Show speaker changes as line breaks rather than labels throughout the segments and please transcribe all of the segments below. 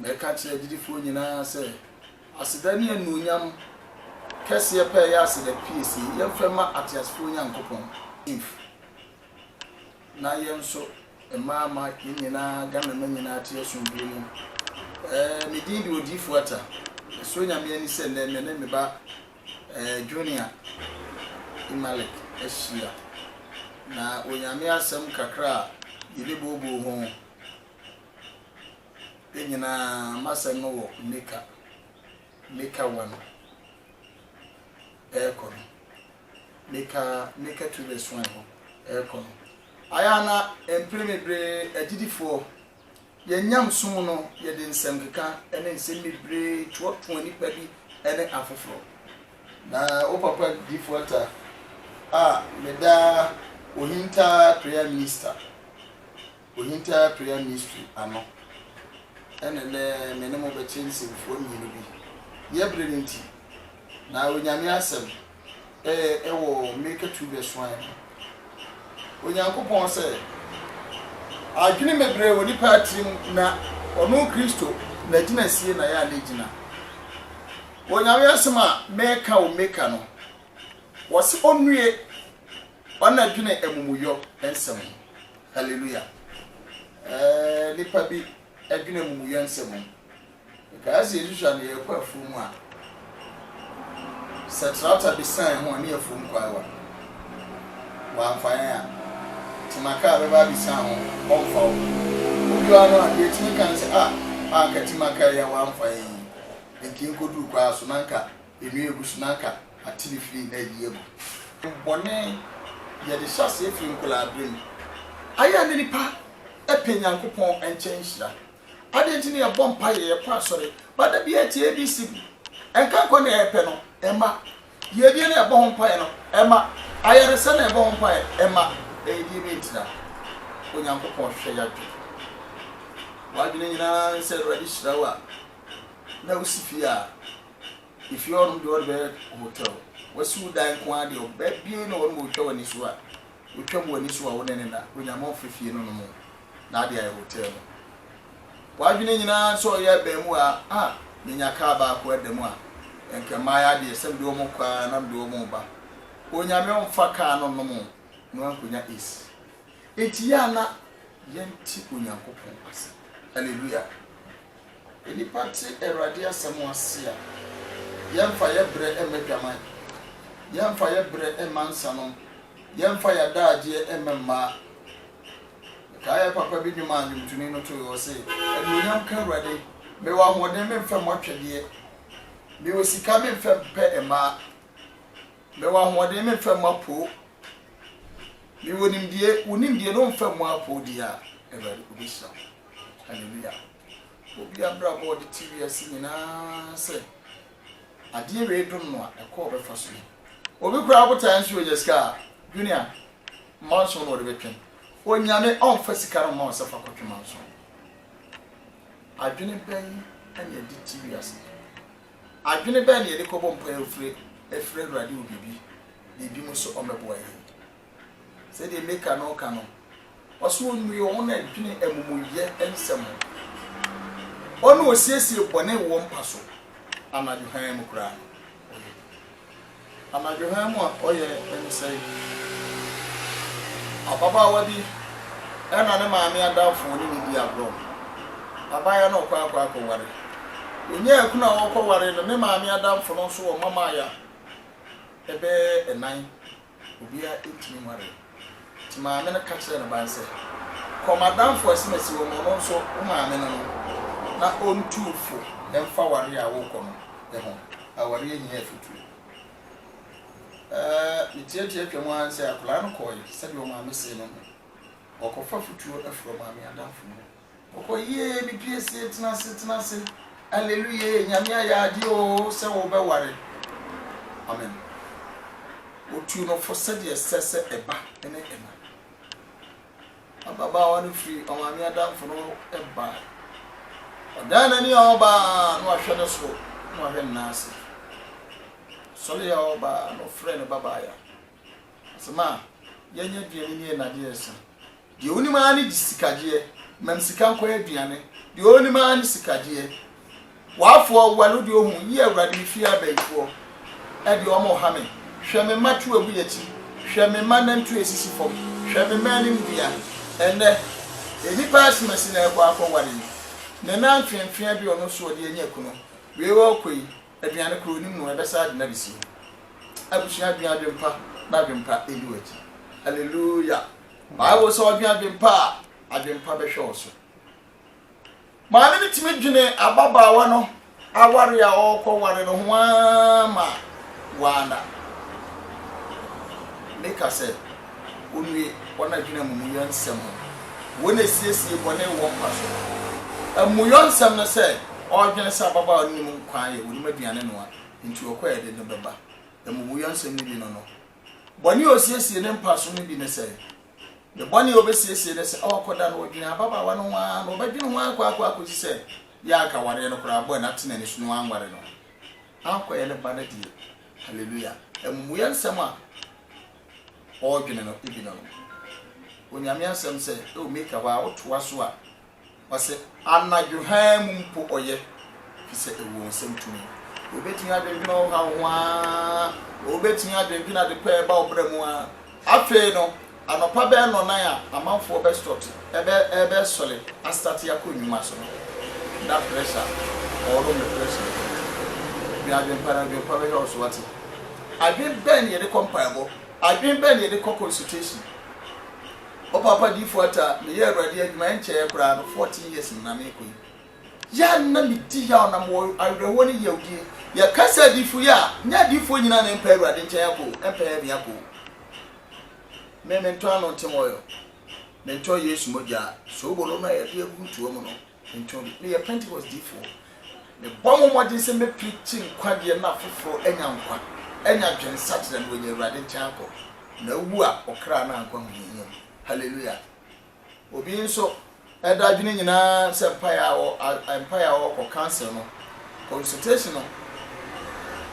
Mɛka akyerɛ agyidifoɔ nyinaa sɛ, Aseda ne anuonyam kɛseɛ pɛ yɛ aseda piesie yɛmfa mma ateasefoɔ Nyankopɔn. Inf. Na yɛn nso mma ama yɛn nyinaa Ghanama nyinaa ate asomdwoeɛ mu. Ɛɛ me din de Odiyifoɔ Atta. Ɛsɔ Nyame ani sɛ nnɛ me ne me ba ɛɛ Junior Imalik ahyia. Na Onyame asɛm kakra a yɛbɛbooboo ho. Ne nyinaa m'asɛm no wɔ Mika, Mika wa no ɛɛkɔ no, Mika, Mika tu bɛ suan hɔ ɛɛkɔ no. Ayɛ a na mpere bebree agyidifoɔ, yɛn nyamesom no yɛde nsɛmkeka ne nsɛm bebree toatoa nnipa bi ne afoforɔ. Na wo papa Difo Atta a meda Ohintaa Prayer Minister. Ohintaa Prayer Mystery ano na ɛnnɛ me ne mo bɛkyɛ nsɛmfua mmienu bi. Deɛ bere no nti, na Onyame Asɛm ɛ wɔ mmirika tu bɛ suae no. Onyankopɔn sɛ adwene bebree wɔ nipa tirim na ɔno Kristo n'agyinasie na yɛ a n'agyina. Onyame Asɛm a mɛka wɔ mmirika no, wɔse ɔnnue ɔnna dwene amumuyɔ nsɛm ho. Hallelujah eeh Nnipa bi dwene amumuyɛ nsɛm ho Mekaeɛ sɛ yɛsusua no yɛrekɔ afuo mu a Sɛ tractor bi sane ho a ne yɛfuo mu kwaewa Wamfa yɛn a Tema car bɛba abisa ho ɔmfa wo Wodu ano a deɛ ɛtumi ka ne sɛ ah Anka Tema car yi a wamfa yɛn yi Nka yɛnkɔduru kwaa so na anka Nnua egu so na aka atini firi na ayi agu. Bɔne, yɛde hyɛ aseɛ firi nkwadaa-berɛ mu. Ayɛ na nipa pɛ Nyankopɔn nkyɛn nhyira. Adɛn nti na yɛbɔ mpaeɛ, yɛkɔ asɔre, but da biara yɛte ABC bi. Ɛnka nkwa na yɛpɛ no, ɛmma. Yiedie na yɛbɔ ho mpaeɛ no, ɛmma. Ayaresa na yɛbɔ ho mpaeɛ, ɛmma. Ɛyɛ deɛ bɛn nti na Onyankopɔn hwehwɛ y'adwene? W'adwene nyinaa ne sɛ Awurade hyira wo a na wosi fie a. efie hɔ nom deɛ ɔde bɛyɛ hotel wasi wo dan nko ara deɛ ɔbɛ bie na ɔnom ɔtwa w'ani so a ɔtwa mu w'ani so a wo ne ne na onyame ɔmfa fie no nom na ade ayɛ hotel no w'adwene nyinaa sɛ ɔyɛ abaamu a a menya kaa baako ada mu a ɛnka mmaayɛ adeɛ sɛ mede ɔmo kɔ a na mede ɔmo ba onyame ɔmfa kaa no nom na wankonya is enti yɛ ana yɛnte onyankopɔn ase hallelujah Sɛ nnipa te Awurade asɛm ase a, yɛremfa yɛn brɛ mma adwaman, yɛremfa yɛn brɛ mma nsanom, yɛremfa yɛn adagyeɛ mma mmaa. Mekae yɛn papa bi nnwom a nnwomtoni no toeɛ, ɔse, Anuonyam nka Awurade, mewɔ ahoɔden memfa mmɔ twɛdeɛ, mewɔ sika memfa mpɛ mmaa, mewɔ ahoɔden memfa mmɔ apoo, mewɔ nimdeɛ, wo nimdeɛ no womfa mmɔ apoo deɛ a, Awurade, ɔbɛhyira wo. Hallelujah! Obi abrabɔ a ɔde te wiase nyinaa sɛ adeɛ wei dom no a ɛkɔ ɔbɛfa so yi. Obi koraa botaeɛ nso ɔnya sika a, junior, manson na ɔde bɛtwe. Onyame ɔmfa sika no mma ɔsɛ fa kɔtwe manson. Adwene bɛn na yɛde te wiase? Adwene bɛn na yɛde kɔbɔ mpaeɛ ofire afiri Awurade wɔ biribi biribi mu sɛ ɔmmɛboa yɛn? Sɛdeɛ Mika no reka no, ɔse ɔnnue wɔn a ɛdwene amumuyɛ nsɛm ho, wɔn a wɔsiesie bɔne wɔ wɔn mpa so anadwo hann mu koraa no, ɔyɛ bi. Anadwo hann mu a ɔyɛ ne sɛn? Ababaawa bi na ne maame adamfo ne no di agorɔ. Abaayewa no rekɔ akɔ akɔware. Ɔnyaa akunu a ɔrekɔware no, ne maame adamfo no nso wɔ mmammaayɛ a ɛbɛyɛ nnan. obiara ntumi nwaree. Nti maame no ka kyerɛɛ ne ba no sɛ, Kɔ m'adamfo a asimasi wɔ mu, ɔno nso, wo maame no no, na ɔntuu fo mfa awareɛ a worekɔ no ho. Awareɛ hia afotuo. Ɛɛ, metiatiaa twam ara ne sɛ akwadaa no kɔeɛ sɛdeɛ ɔmaame see no no. Ɔkɔfa afotuo firi ɔmaame adamfo no hɔ. Ɔkɔ yiee me piesie tenase tenase aleluyee nyame ayɛ adeɛ oo sɛ wo bɛ ware amen otuu no fo sɛdeɛ ɛsɛ sɛ ɛba ne ɛna ababaawa no firi ɔmaame adamfo no hɔ ɛbae ɔdan n'ani a ɔbaa no ahwɛ ne soro na wahwɛ ne nan ase sɔre a ɔbaa no frɛ ne babaaya. Asɛm a yɛnyɛ aduane nie na adeɛ resa. Deɛ ɔnim ara ne gye sika gyeɛ, mam sika nkɔyɛ aduane, deɛ ɔnim ara ne sika gyeɛ. W'afoɔ, well wo deɛ ɔhu, yie awurade me fie abayifoɔ ɛdeɛ wɔn reha me, hwɛ me mma tu agu yɛakyi, hwɛ me mma nantuo ɛsisi fam, hwɛ me mma anim dua, ɛnnɛ nnipa asem asi na ɛrekɔ akɔ ware yi, ne nan feɛfeɛ bi ɔno nso ɔde anya kunu, wei ɔrekɔ yi, Aduane koro no mu ɛbɛsa adwene adesie. Abusua adwene adwene pa na adwene pa edi wakyi. Hallelujah. Bible sɛ ɔdwene adwene pa a, adwene pa bɛhwɛ wo so. Maame no tumi dwene ababaawa no aware a ɔrekɔ ware no ho ara ma waana. Meka sɛ. wonnue wɔn adwene amumuyɔ nsɛm ho. Wɔn asiesie bɔne wɔ mpa so. Amumuyɔ nsɛm no sɛ ɔredwene sɛ ababaawa no nim nkwa ayɛ, onim aduane noa, enti ɔkɔ a ɛde no bɛba. Amumuyɔ nsɛm no bi no no. Bɔne a osiesie ne mpa so no bi ne sɛn? Ne bɔne a obesiesie ne sɛ ɔrekɔda no, odwen ababaawa no ho ara na ɔbɛdwen ho akorakora akosi sɛ yɛ a anka awareɛ no koraa abɔe na ate n'ani so na wanware no ankɔyɛ ne ba no deɛ. Hallelujah! Amumuyɔ nsɛm a. ɔɔdwene no bi no, Onyame asɛm sɛ, Eo Mika, waa wotoa so a, ɔse, anadwo hann mu mpo ɔyɛ, efisɛ ewɔ nsɛm tumi. Wobetumi adwendwene ɔhaw ho aa, wobetumi adwendwene ade pa a ɛba wo bra mu aa. Afei no, anɔpa bɛyɛ nnɔnan a amanfoɔ bɛstɔte, ɛbɛ, ɛbɛsɔre astate akɔ nnwuma so no, na pressure, ɔɔnom ne pressure no, dwen adwen pa na adwen pa bɛhwɛ wo so, wate? Adwen bɛn na yɛde kɔ mpaebɔ? Adwen bɛn na yɛde kɔ consultation? Ɔpaapa Difo Atta, me yɛ Awurade adwuma ɛnkyɛɛ koraa no fourteen years na meekɔ yi. Yɛ a na me di yaw na mewɔ awerɛhoɔ ne yawdie. Yɛ ka sɛ Adifo yɛ a, nyɛ Adifoɔ nyinaa na ɛmpɛ Awurade nkyɛn akɔ o, ɛmpɛ heaven akɔ o. Me mentɔ ano nte wɔyɔ, mentɔ Yesu mogya, soobolo no a yɛde agu ntoa mu no, Nti meyɛ Pentekoste difoɔ. Mebɔ mo mmɔden sɛ mɛpirikyi nkwagyeɛ na afoforɔ anya nkwa, anya dwensakyera na wɔanya Awurade nkyɛn akɔ, na awu a, ɔkra no ankɔ ahohiahia mu. Hallelujah! Obi nso da adwene nyinaa sɛ mpaeɛ a ɔ, a, mpaeɛ a ɔrekɔ, counsel no, consultation no,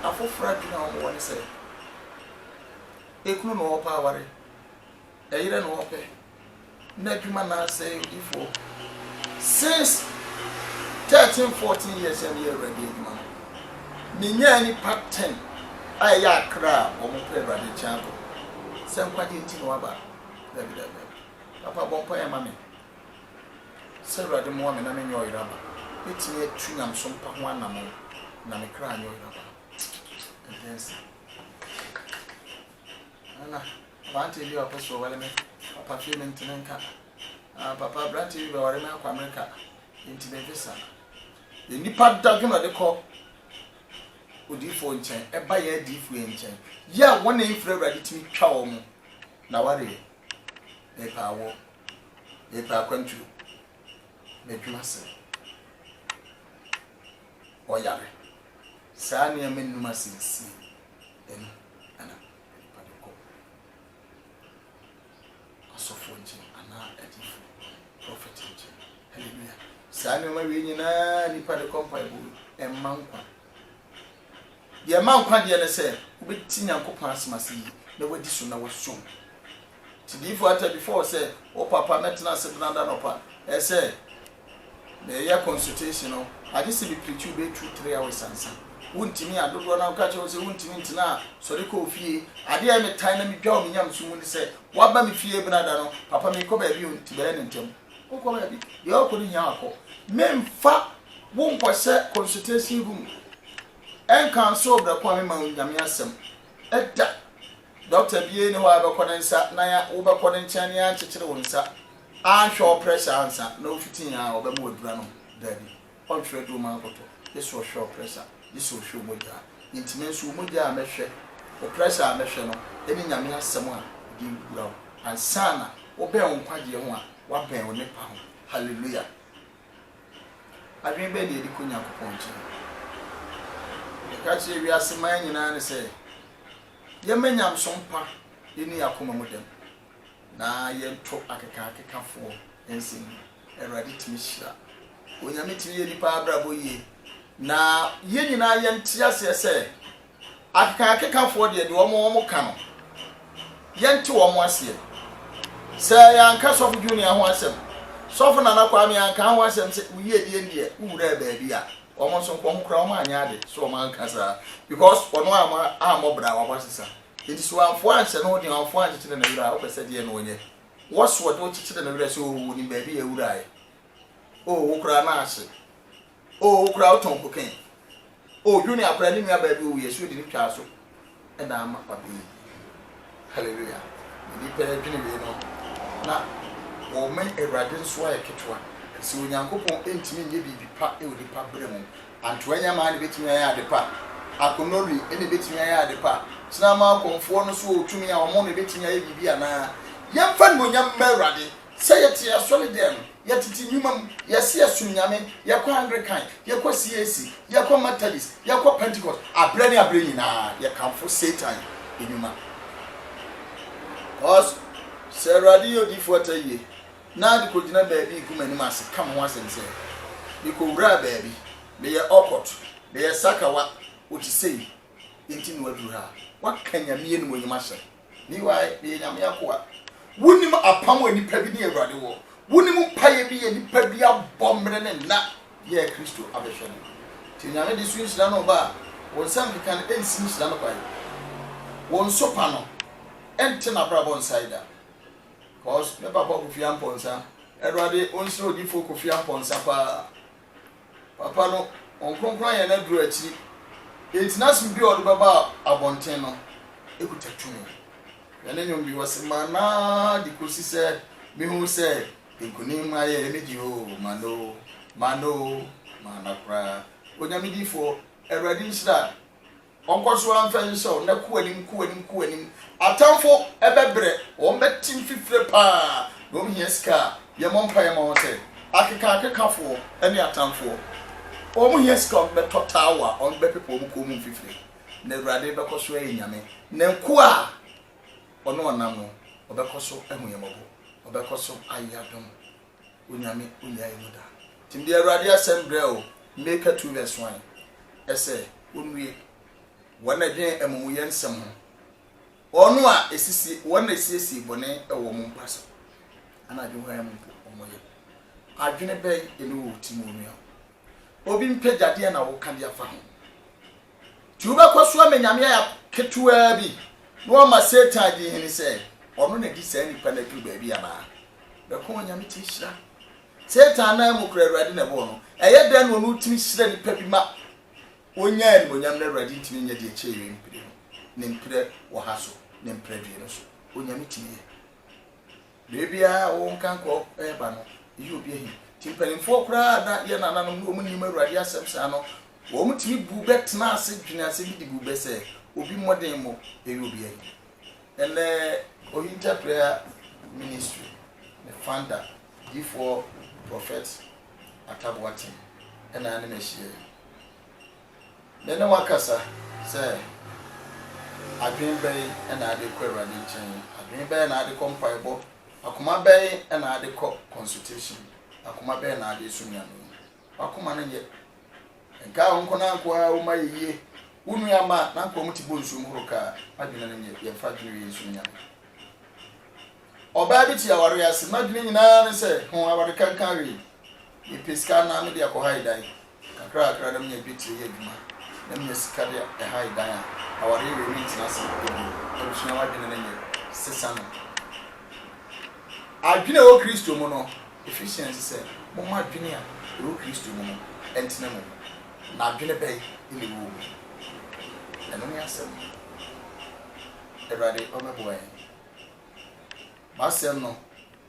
afoforɔ adwene a wɔwɔ ne sɛ, ekunu na ɔrepɛ aware. Ɛyerɛ na ɔpɛ na adwuma na asɛe odiyifoɔ since thirteen fourteen years a meyɛ Awurade adwuma no menyaa nnipa ten a ɛyɛ akra a wɔn pɛ Awurade nkyɛn akɔ sɛ nkwagye nti na waba dabi dabi dabi papa bɔ mpaeɛ ma me sɛ Awurade mmoa me na me nyɛ ɔyeraba mɛtumi atu nyamesom pa ho anamɔn na me kra anyɛ ɔyeraba ɛdeɛ nsa Nna aberantsɛ bi a ɔpɛ so ɔwar me papa fii me ntsɛn nka, Ah, papa, aberantsɛ bi bɛwar me akɔ America, ntsi memmfi sa. Yɛ nyimpa dadwen a ɔdze kɔ odiyifo nkyɛn ba hɛn ediyifo hɛn nkyɛn yi a hɔn a mmfir Ewuradze tumi twa hɔn na wɔaryɛ. Merepɛ awɔ, merepɛ akwantu, m'edwuma ase, ɔyar, saa nneɛma nnum asɛnsin. Ɛno na na nnipa no kɔ asɔfoɔ nkyɛn anaa adiyifoɔ, prɔfɛt nkyɛn. Hallelujah. Saa nneɛma wei nyinaa nnipa de kɔ mpaebɔ mu. Ɛmma nkwa. Deɛ ɛma nkwa deɛ ne sɛ wobɛti Nyankopɔn asɛm ase yie na wadi so na wasom. Nti diyifo Atta bi fɔɔ sɛ, O papa, mɛtena ase dena da nɔpa ɛ sɛ mereyɛ consultation no, agye sɛ me preachi wo bɛyɛ two three hours ansa. Wontimi a, dodoɔ no ara woka kyerɛ wo sɛ wontimi ntena a, sɔre kɔ wo fie. Adeɛ a ɛme tan na me dwa wɔ me nyamesom mu ne sɛ, woaba me fie bena da no, papa merekɔ baabi o, nti bɛyɛ no ntɛm. Wonkɔ baabi, deɛ ɔrekɔ no hia a kɔ. Memfa wo nkɔhyɛ consultation room, ɛnka nso wo brɛ ko a memma wo Nyame asɛm da. Dɔkta biara nni hɔ a yɛbɛkɔ ne nsa na yɛa, wobɛkɔ ne nkyɛn na yɛankyekyere wo nsa, anhwɛ wo pressure ansa na wofiti he a ɔbɛma wo aduru anom. Daabi. Ɔntwerɛ aduru mma nkɔtɔ, gye sɛ ɔhwɛ wo pressure, gye sɛ ɔhwɛ wo mogya. Nti me nso wo mogya a mɛhwɛ, wo pressure a mɛhwɛ no ne Nyame asɛm a mede awura wo. Ansa na wobɛn wo nkwagyeɛ ho a, woabɛn wo nnepa ho. Hallelujah! Adwene bɛn na yɛde kɔ Nyankopɔn nkyɛn? Yɛka kyerɛ wiase man nyinaa ne sɛ, Yɛmma nyamesom pa nni yɛn akoma mu dɛm, na yɛnto akekaakekafoɔ nsa mu. Awurade tumi hyira. Onyame tumi yɛ nnipa abrabɔ yie. Na yɛn nyinaa yɛnte aseɛ sɛ, akekaakekafoɔ deɛ, deɛ wɔn wɔn ka no, yɛnte wɔn aseɛ. Sɛ yɛanka Sɔfo Junior ho asɛm, Sɔfo Nana Kwame anka ho asɛm sɛ wo yiedie no deɛ, wo wuraa baabi a, Wɔn nso wɔn koraa wɔn anyɛ ade so wɔn anka saa because wɔn ama ammɔ bra wɔn aba sesa nti so wɔanfoɔ anhyɛ no den wɔanfoɔ ankyekyere ne werɛ a wopɛ sɛ deɛ na wɔnyɛ wɔ so wɔde wo kyekyere ne werɛ sɛ oo wɔnim baabi a awuraeɛ oo wo koraa na ahye oo wo koraa wotɔn cocaine oo junior koraa ne nua baabi owuiɛ so yɛde ne twaa so na ama ɔde yi. Hallelujah! Nnipa adwene wei no na wɔma Awurade nso ayɛ ketewa. Sɛ Onyankopɔn ntumi nyɛ biribi pa wɔ nnipa berɛ mu, antoa nyamaa na ɛbɛtumi ayɛ ade pa? Akonori na ɛbɛtumi ayɛ ade pa? Kyinama akɔmfoɔ no so ɔtumi a wɔn na ɛbɛtumi ayɛ biribi anaa? Yɛmfa animuonyam mma Awurade Sɛ yɛte asɔredɛm mu, yɛtete nnwuma mu, yɛse yɛsom Nyame, yɛkɔ Anglikan, yɛkɔ CAC, yɛkɔ Methodist, yɛkɔ Pentecost, aberɛ ne aberɛ nyinaa yɛkamfo Satan nnwuma. Cos sɛ Awurade yɛ odiyifoɔ ata yie, na ade kɔgyina baabi gu m'anim ase ka me ho asɛm sɛ, mekɔwuraa baabi, meyɛ awkward, meyɛ sakawa, ɔte sei, enti na waduru ha, waka Nyame animuonyam ahyɛ me. Me wae, meyɛ Nyame akoa. Wonim apam a nipa bi ne Awurade wɔ? Wonim mpaeɛ bi a nipa bi abɔ mmerɛ ne nna bi a Kristo abɛhwɛ no? Nti Onyame de so nhyira no ba a, wo nsa nkeka no nsi nhyira no kwan. Wo nso pa no nte n'abrabɔ nsae da. Cos me papa Kofi Amponsah, Awurade onsira odifoɔ Kofi Amponsah paa. Papa no, Wɔn Kronkron ayɛ n'aduru akyiri. Enti n'asɛm bi a ɔde bɛba abɔnten no kuta tumi. Hwɛ ne nnwom bi, ɔse, Mana de kosi sɛ mehu sɛ nkonim ayɛ me de oo, mana oo, mana oo, mana koraa. Onyame difoɔ, Awurade nhyira Ɔnkɔ so ara mfa nhyɛw na kɔ anim, kɔ anim, kɔ anim. Atamfo bɛbrɛ, wɔbɛte mfifire paa, na wɔhia sika a, yɛmmɔ mpaeɛ ma wɔn sɛ akekaakekafoɔ ne atamfoɔ. Wɔhia sika a wɔbɛtɔ taawa a wɔbɛpepa wɔn kɔn mu mfifire. Na Awurade bɛkɔ so ayɛ Nyame, na nkoa a Ɔne wɔn nam no, ɔbɛkɔ so ahu yɛn mmɔbɔ, ɔbɛkɔ so ayɛ adom Onyame onyae no da. Ntsi mede Ewuradze asɛm brɛ wo, Mika two vs one, ɛsɛ onue hɔn na dwen emumuyɛ nsɛm ho, hɔn a esisi hɔn na esiesie bɔne wɔ wɔn mpa so, anadwo hɔn a mpo wɔyɛ. Adwene bɛn na ewɔ wo tsir mu, onua? Obi mpagya deɛ na woka de afa ho. Nti wobɛkɔ so ama nyame ayɛ ketewaa bi na wama Satan adi hene sɛ ɔno na di saa nipa no aduru baabi anaa? Bɛko onyame tumi hyira. Satan nan mu kora Awurade na ɛbɔɔ no. Ɛyɛ dɛn na ɔno tumi hyira nipa bi ma ɔnya animonyam na Awurade ntumi nyɛ deɛ kyɛɛ wei mpire no, ne mprɛ wɔ ha so, ne mprɛ due no so? Onyame tumi yɛ. Beebi a wo nkankoro reba no, eyi obi ahi. Enti mpanimfoɔ koraa a na yɛn nananom no wɔnnim Awurade asɛm saa no, wɔtumi buu bɛ tenaa ase dwenee asɛm bi de buu bɛ sɛ, Obi mmɔden mmɔ, eyi obi ahi. Ɛnnɛ, Ohinta Prayer Ministry ne founder, Difoɔ Prophet Atta Boateng na ne me ahyia yi. Me ne woakasa sɛ, Adwene bɛn na ade kɔ Awurade nkyɛn? Adwene bɛn na ade kɔ mpaebɔ? Akoma bɛn na ade kɔ consultation? Akoma bɛn na ade som Nyame? W'akoma no nyɛ. Nkaa wo nko na nko ara wo ma yɛ yie. Wo nua ma na nka ɔmo te bonsu mu horo kaa. M'adwene no nyɛ. Yɛmfa adwene wei nsom Nyame. Ɔbaa bi te aware ase. N'adwene nyinaa ne sɛ, Ho aware kankan wei. Mepɛ sika anaa mede akɔhae dan. Kakrakra na minya dwetire yɛ adwuma, na minya sika de han dan a, awareɛ wei rentena ase bio. Abusua, w'adwene no nyɛ sesa no. Adwene a ɛwɔ Kristo mu no, Ephesians sɛ, Momma adwene a ɛwɔ Kristo mu no ntena mo mu. Na adwene bɛn na ɛwɔ wo mu? Ɛno ne asɛm no. Awurade ɔmmɛboa yɛn. M'asɛm no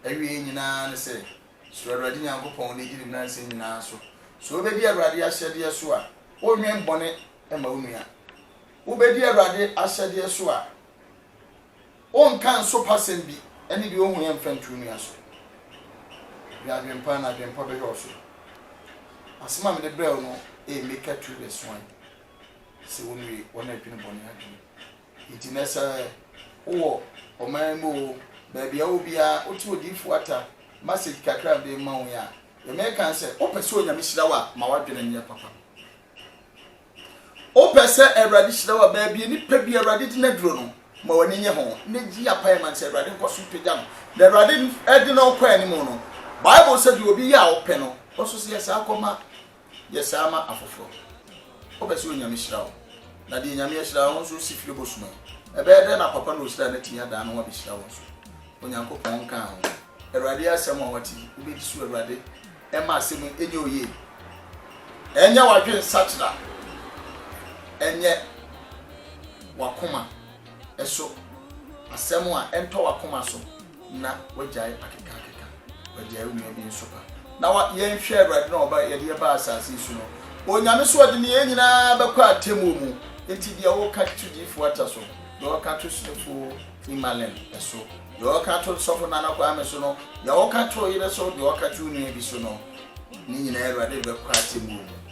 awieɛ nyinaa ne sɛ, Suro Awurade Nyankopɔn wo nidi ne nnansa nyinaa so. Sɛ wobɛdi Awurade ahyɛdeɛ so a, wonnwen bɔne mma wo nua. Wobɛdi Awurade ahyɛdeɛ so a, wonnka nsopasɛm bi ne deɛ ɔhuiɛ mfa nto wo nua so. Dwen adwempa na adwempa bɛhwɛ wo so. Asɛm a mede brɛ wo no ɛyɛ Mika 2 vs 1. Sɛ wonwie, wɔn a adwene bɔne adwene. Enti nnɛ sɛ wowɔ ɔman mu oo, baabi a wowɔ biara, wote odiyifoɔ ata message kakra a mede rema wo yi a, deɛ mereka ne sɛ, wopɛ sɛ Onyame hyira wo a, ma w'adwene nyɛ papa. Wopɛ sɛ Awurade hyira wo a, baabi a nipa bi Awurade de no aduro no, ma w'ani nye ho na gye apaeɛ ma no sɛ Awurade nkɔ so pagya no. Na Awurade de no kɔ anim no, Bible sɛ deɛ obi yɛ a ɔpɛ no, ɔso sɛ yɛ saa kɔma Yɛ saa ma afoforɔ. Wopɛ sɛ Onyame hyira wo? Na deɛ Nyame ahyira wo nso si firi bɔ suma yi. Ɛbɛyɛ dɛn na papa no a ɔhyiraa no atumi adan ne ho abɛhyira wo nso? Onyankopɔn nkaa ho. Awurade asɛm a woate yi, wobɛdi so? Awurade mma asɛm yi nyɛ wo yie. Ɛnyɛ w'adwensakyera, ɛnyɛ w'akoma so asɛm a ɛntɔ w'akoma so. na wagyae akekaakeka, wagyae onua bi nso ba. Na wa, yɛnhwɛ Awurade na ɔba, yɛde yɛ baa asase yi so no, Onyame so ɔde ne yɛn nyinaa bɛkɔ atemmuo mu, enti deɛ ɔka to Diifo Atta so, deɛ ɔka to Sodifo Imalem so, deɛ ɔka to Sɔfo Nana Kwame so no, deɛ ɔka to ɔyere so, deɛ ɔka to onua bi so no, ne nyinaa Awurade de bɛkɔ atemmuo mu.